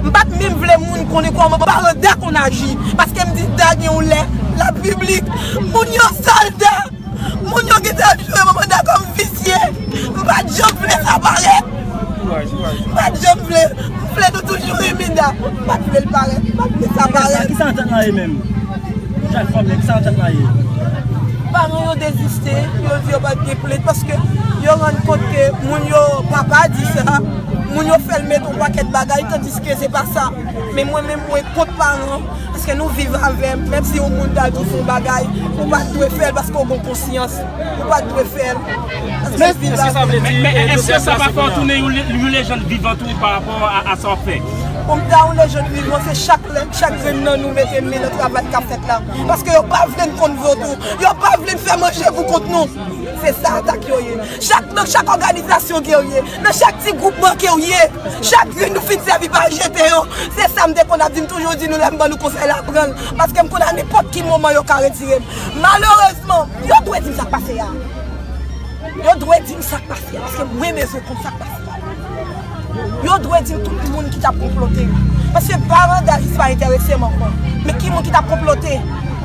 M pa t menm vle moun konnen kòman paran Da konn aji, paske m di Da gen yon lè l ap piblik moun yo sal Da. Moun yo gentan ap jwe manman Da kòm visye. M pa t janm vle sa parèt. M pa t janm vle. M vle nou toujou renmen Da. M pa t vle l parèt. M pa t vle sa parèt. Kisa antèt la ye menm? Jèn fanm yo, kisa antèt la ye? Paran yo deziste, yo di yo pa t gen plent paske yo rann kont ke moun yo pa pa di sa, moun yo fè l met. yon pakèt bagay tandiske se pa sa men mwen menm mwen kont paran paske nou viv avè m menm si yon moun ta di w fè yon bagay ou pa t dwe fè l paske w gen konsyans ou pa t dwe fè l paske w viv avè l men èske sa pa fè w tounen yon lejand vivan tou pa rapò a sa w ap fè pou m ta yon lejand vivan se chak lè chak grenn nan nou mete men nan travay k ap fèt la paske yo pa vle n konn vodou yo pa vle n fè manje pou kont nou se sa atak yo ye chak òganizasyon gerye Nan chak ti gwoup manke w ye, chak youn nou fin sèvi pa jete yo, se sa m te konn ap di, m toujou di nou lè m ban nou konsèy la pran l, paske m konn a nenpòt ki moman yo ka retire m. Malerezman, yo dwe di m sa k pase a, yo dwe di m sa k pase a, paske mwen bezwen konn sa k pase a, yo dwe di m tout moun ki t ap konplote, paske barandal sa pa enterese m ankò, men ki moun ki t ap konplote.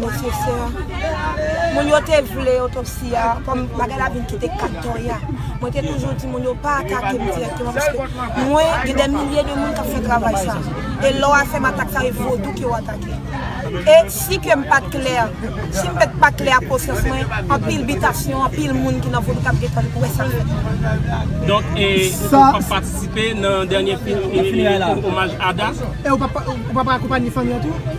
Nesesè. Moun yo te vle otopsi a, kòm bagay la vin kite kat toya. Mwen te toujou di moun yo pa atake m dirèkteman paske mwen gen dè milye de moun k ap fè travay sa. E lè w a fè m atak sa e vodou ke w atake. E si kè m pa t klè, si m pè t pa klè ak konsyans mwen, anpil bitasyon, anpil moun ki nan vodou k ap gen tan li pou wè sa fèt mwen. Donk e ou p ap patisipe nan dènye kou omaj Ada? E ou p ap akonpanye fanmi an tou?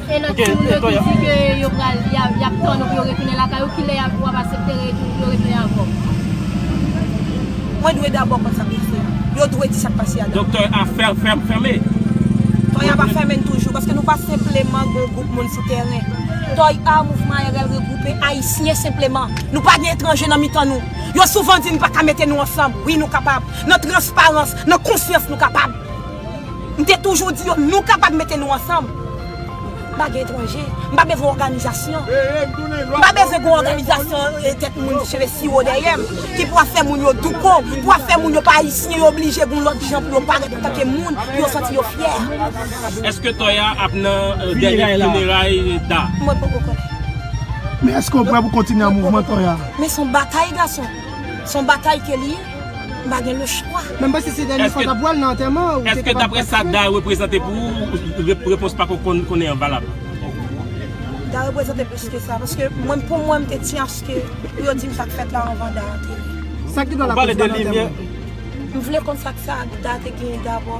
E lòt moun yo ki di ke yo pral, yap tann ou pou yo retounen lakay ou, kilè yap, wap asepte retoun, pou yo retounen avè w? Mwen dwe dabò konn sa ki rive a. Yo dwe di sa k pase a dabò. Doktè a fèmen. Tòy a pa fèmen toujou, paske nou pa senpleman gon gwoup moun sou tèren. Tòy a, mouvman ARL regwoupe Ayisyen senpleman. Nou pa gen etranje nan mitan nou. Yo souvan di n pa ka mete nou ansanm. Wi nou kapab. Nan transparans, nan konsyans nou kapab. M te toujou di yo nou kapab mete nou ansanm. M pa gen etranje. M pa bezwen òganizasyon. M pa bezwen gen òganizasyon tèt moun cheve siwo dèyè m ki pou ap fè moun yo douko, pou ap fè moun yo pa ayisyen, yo blije gen yon lòt jan pou yo parèt antanke moun, pou yo santi yo fyè. Èske Tòya ap nan dènye fineray Da? Mwen poko konnen. Men èske w prè pou kontinye nan mouvman Tòya? Men s on batay gason. S on batay ke li ye. m pa gen le chwa. Men m panse se dènye fwa w t ap wè l nan antèman an. Èske daprè sa Da reprezante pou ou, repons pa ko konnen an valab? Da reprezante plis ke sa. Paske mwen pou mwen m te ti aske pou yo di m sa k fèt la anvan Da ateri. Sa ki dwòl ak ou di pa nan antèman an? M vle konn sa k sa Da te genyen dabò.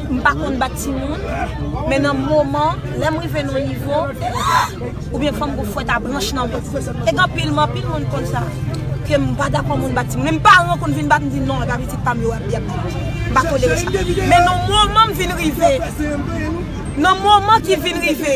M pa konn bat timoun, men nan moman, lè m rive nan yon nivo, oubyen fò m gen fwèt a branch nan men. E gen anpil moun, anpil moun konn sa, ke m pa dakò moun bat timoun. Menm paran konn vin bat m, m di non, e pa pitit pa m yo y ap di. M pa tolere sa. Men nan moman m vin rive, nan moman ki vin rive.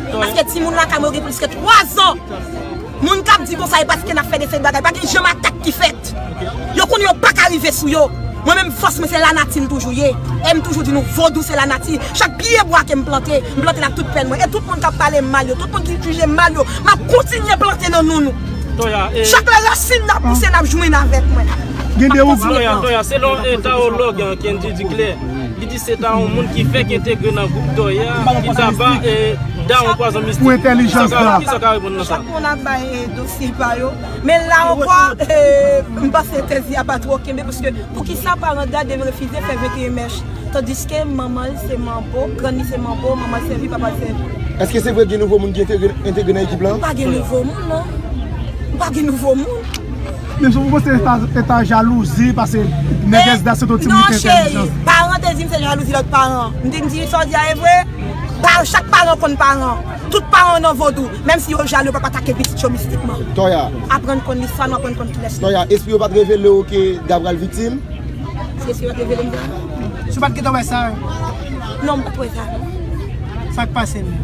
Paske timoun lakay mwen yo gen plis ke 3 zan. Moun kap di konsa e paske nap fè de seri bagay. Pa gen janm atak ki fèt. Yo konnen yo paka rive sou yo. Mwen menm fòs mwen se lanati m toujou ye. Em toujou di nou vodou se lanati. Chak pye bwa kem plante, m plante l ak tout pèn mwen. E tout moun kap pale m mal yo, tout moun ki jije m mal yo, map kontinye plante nan nou nou. Chak lè rasin nan pouse nap jwenn avèk mwen. Gen de ou k. Toya, toya, selon tawològ Kendy Duclaire, li di. Se ta yon moun ki fèk entegre nan gwoup Dòyè a ki ta ba Dawon pwazon mistik. Kisa w ka reponn nan sa? Chak moun ap bay dosye pa yo. Men la ankò, m panse tèz li a pa twò kenbe paske poukisa paran Da deve refize fè 21 mèch tandiske manman l se manbo, grann li se manbo, manman l sèvi, papa l sèvi? Èske se vre gen nouvo moun ki entegre nan ekip lan? Pa gen nouvo moun non. Pa gen nouvo moun. Menm si ou panse se ta jalouzi pase nègès da se ton ti moun ki te entèlijan. Non cheri, paran an te di m se jalouzi lòt paran an. M te di m sa w di a e vre? Chak paran konn paran an. Tout paran yo nan vodou. Menm si yo jalou yo pap atake pitit yo mistikman. Toya. Aprann konn listwa nou, aprann konn kilès nou. Toya, espri yo pat revele w ke Da pral viktim? Si espri yo pat revele m Da? Si w pat gentan wè sa? Non, m pat wè sa non. Sa k pase menm?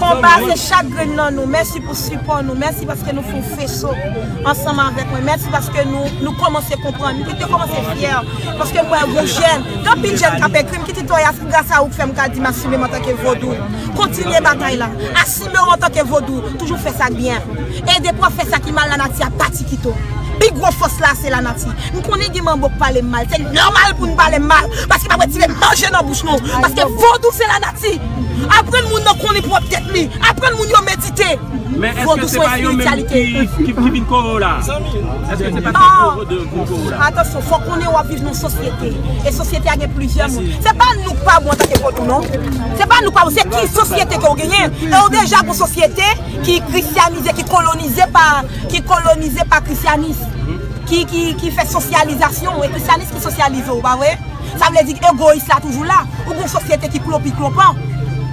Konba se chak grenn nan nou. Mèsi pou sipò nou. Mèsi paske nou fon feso ansanm avèk mwen. Mèsi paske nou kòmanse konprann. M kite kòmanse fyè paske m wè gon jèn, gen anpil jèn k ap ekri. M kite Toya se gras a ou k fè m ka di m asime m antanke Vodou. Kontinye batay la. Asime w antanke Vodou. Toujou fè sa k byen. E depi w ap fè sa ki mal lanati ap pati kite w. Pi gwo fòs la se lanati. M konnen gen manbo k pale m mal. Se nòmal pou n pale m mal paske m ap retire manje nan bouch nou. Paske Vodou se lanati. Aprann moun nan konnen pwòp tèt li. Aprann moun yo medite. Vodou se yon espirityalite. Men eske se pa yo menm ki vin kore w la? Eske se pa ti gwo vodou ki vin kore w la? Atansyon, fò w konnen w ap viv nan yon sosyete. E sosyete a gen plizyè moun. Se pa nou k pa bon antanke vodou non. Se pa nou k pa bon. Se ki sosyete ke w genyen. E w deja gen yon sosyete ki krisyanize, ki kolonize pa, ki kolonize pa krisyanis. Ki fè sosyalizasyon w. E krisyanis ki sosyalize w, pa vre? Sa vle di egoyis la toujou la. Ou gen yon sosyete ki klopiklopan.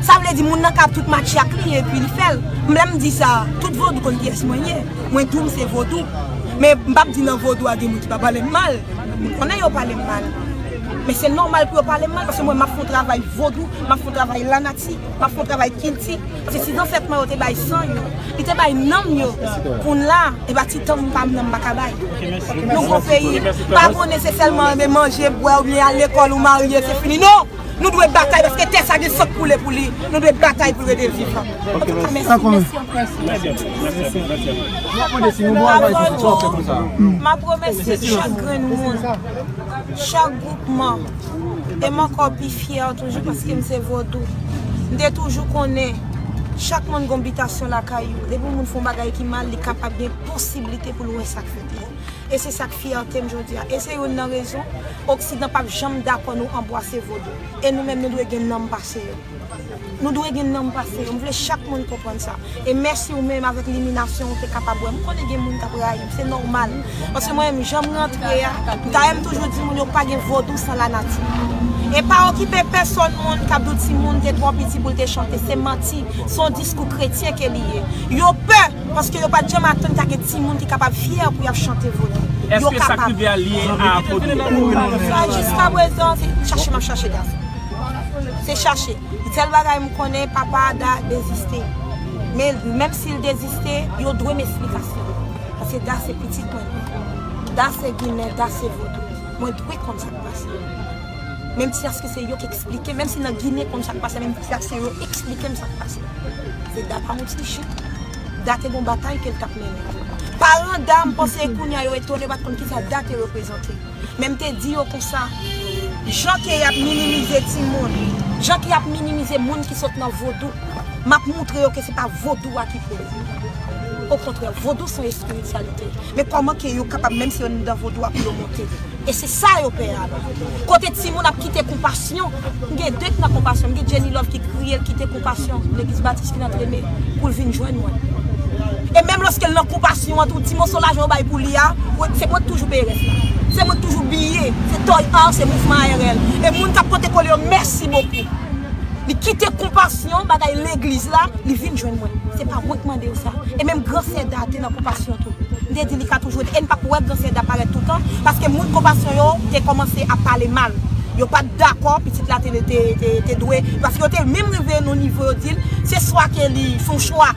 Sa vle di moun nan ka ap tout matche ak li epi li fè l. M lè m di sa, tout vodou konn kiyès mwen ye. Mwen tou m se vodou. Men m pap di nan vodou a gen moun ki pa pale m mal. M konnen yo pale m mal. Men se nòmal pou yo pale m mal paske mwen m ap fè yon travay vodou, m ap fè yon travay lanati. M ap fè yon travay kilti, paske si zansèt mwen yo te bay san yo, yo te bay nanm yo pou n la, e ba ti tanm pa m nan m pa ka bay. Nou gon peyi, pa konnen se sèlman renmen manje, bwè oubyen al lekòl ou marye se fini. Non! Nou dwe batay paske tè sa gen san k koule pou li. Nou dwe batay pou l rete vivan. Antouka mèsi, mèsi anpil. M ap remèsye chak grenn moun, chak gwoupman. e m ankò pi fyè toujou paske m se vodou. M te toujou konnen chak moun gon bitasyon lakay yo, depi yon moun fè yon bagay ki mal li kapab gen posiblite pou l wè sa k fèt la. E se sa k fyète m jodi a. E se youn nan rezon oksidan pap janm dakò nou anbwase vodou. E nou menm nou dwe gen nanm pase yo. Nou dwe gen nanm pase yo. M vle chak moun konprann sa. E mèsi ou menm avèk liminasyon ou te kapab wè m. M konnen gen moun k ap rayi m. Se nòmal. Paske mwen menm jan m rantre a, m ta renmn toujou di moun yo pa gen vodou san lanati. E pa okipe pèsonn moun k ap di w timoun te twò piti pou l te chante. Se manti. Se yon diskou kretyen ke li ye. Yo pè paske yo pa t janm atann ta gen timoun ki kapab fyè pou y ap chante vodou. Yo kapab. Eske sa k rive a lye a vodou? Jiskaprezan se chache m ap chache gason. Se chache. Sèl bagay m konnen papa Ada deziste. Men menm si l deziste, yo dwe m esplikasyon. Paske Da se pitit mwen li ye. Da se ginen, Da se vodou. Mwen dwe konn sa k pase. Menm si aske se yo k esplike m, menm si nan ginen konn sa k pase, menm si aske yo esplike m sa k pase. Se Da pa yon ti jen. Da te gon batay ke l t ap mennen. Paran Da m panse kounya yo etone yo pa t konn kisa Da te reprezante. Men m te di yo konsa, Jan ke y ap minimize timoun, jan ke y ap minimize moun ki sot nan vodou, m ap moutre yo ke se pa vodou a ki poze yo. Okontrè, vodou son espirityalite. Men kòman ke yo kapab, menm si yo nan vodou a, pou yo monte. E se sa yo pè a la. Kote timoun ap kite konpa. Yon m gen de ki nan konpasyon, m gen Jenny Love ki kriye l kite konpasyon legliz batis ki nan treme pou l vin jwenn mwen. E menm lòske l nan konpasyon an tou ti moso lajan yo bay pou li a, se mwen k toujou peye rès la. Se mwen k toujou biye, se Toy Art, se Mouvman ARL. E moun k ap pote kole yo mèsi bokou. Li kite konpasyon bagay legliz la, li vin jwenn mwen. Se pa mwen k mande yo sa. E menm Gran Sè Da te nan konpasyon tou. M te di li ka toujou ede. E n pa p wè Gran Sè Da parèt toutan paske moun konpasyon yo te kòmanse ap pale mal. Yo pa t dakò pitit la te dwe, paske yo te menm rive nan yon nivo yo di l, se swa ke li fè yon chwa,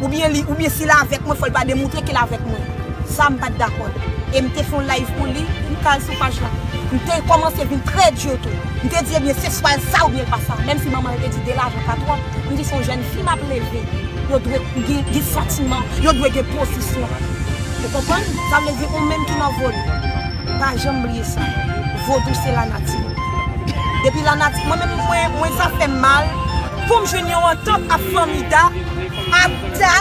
oubyen si l avèk mwen fò l va demontre ke l avèk mwen. Sa m pa t dakò l. E m te fè yon live pou li, m ka al sou paj la. M te kòmanse vin trè di tou. M te di ebyen se swa l sa oubyen l pa sa. Menm si manman l te di 2 lajan pa twòp, m di se yon jèn fi m ap leve, yo dwe gen santiman, yo dwe gen pozisyon. Ou konprann? Sa vle di ou menm ki nan vo l. Pa janm bliye sa. Vodou se lanati. Depi lanati mwen menm mwen sa fèm mal poum jwenn yon antant ap fanmi da ak da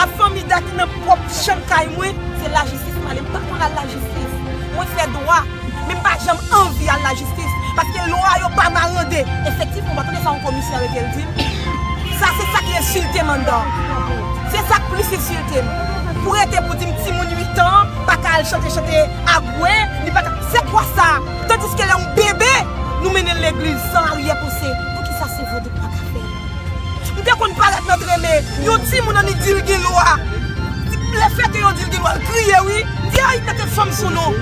ap fanmi da ki nan pwòp chanm kay mwen se lajistis male m pa konn al lajistis mwen fè dwa men m pa janm anvi al lajistis paske lwa yo pa marande efektifman ou pa tande sa yon komisè arete l di sa se sa ki ensilte m anndan se sa k plis ensilte m pou rete pou di m timoun 8 an. paka al chante chante abwe li paka se kwa sa tandiske lè yon bebe nou mennenl legliz san aryè panse poukisa se vodou nou paka fè m te konn parèt nan treme yon timoun annik dil gen lwa le fè ke yo dil gen lwa l kriye wi m di ayy mete fanm sou nou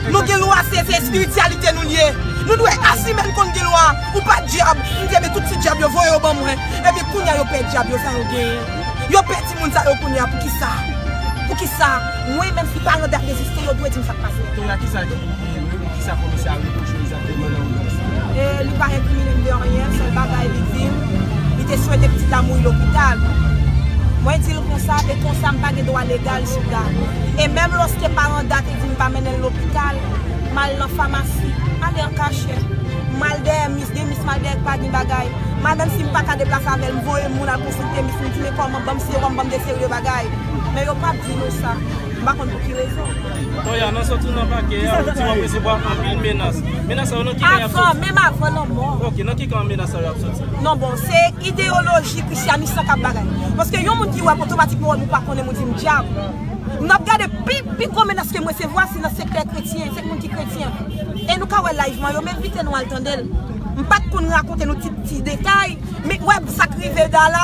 nou gen lwa se espirityalite nou liye nou dwe asime n konn gen lwa ou pa dyab m di ebyen tout ti dyab yo voye yo ban mwen ebyen kounya yo pè dyab yo sa yo genyen. Yo pèdi moun sa yo kounya poukisa poukisa mwen menm ki pa nan dat deziste yo dwe dim sak pase. Kounya kisa ki rivew kisa komisè a repwochew egzakteman nan odyans la? Li pa enkriminenm de anyen, sèl bagay li dim li te swete pitit la mouri lopital. Mwen dil konsa e konsa mpa gen dwa legal sou dat. E menm loske paran dat te dim pa mennenl lopital, mal nan famasi, ale an kachèt, mal dèyè mis, gen mis mal dèyè k pa gin bagay, mal menm sim paka deplase avèl m voye moun al konsiltel. Temis m di men kòman banm sewòm banm de serye bagay men yo pap di nou sa m pa konn pou ki rezon. Toya nan sot ou nan pake a ou di wap resevwa anpil menas menas sa yo nan ki kan yap soti? Avan menm avan lanmò. Ok nan ki kan menas sa yo ap soti? Non bon se ideyoloji krisyanis lan kap bagay paske yon moun ki wèm otomatikman wèm ou pa konnenm ou dim dyab m nap gade pi pi gwo menas kem resevwa se nan sektè kretyen se moun ki kretyen e nou ka wè live mwen yo m envite nou al tandel m pat konn rakonte nou ti ti detay Mik web sak rive da la.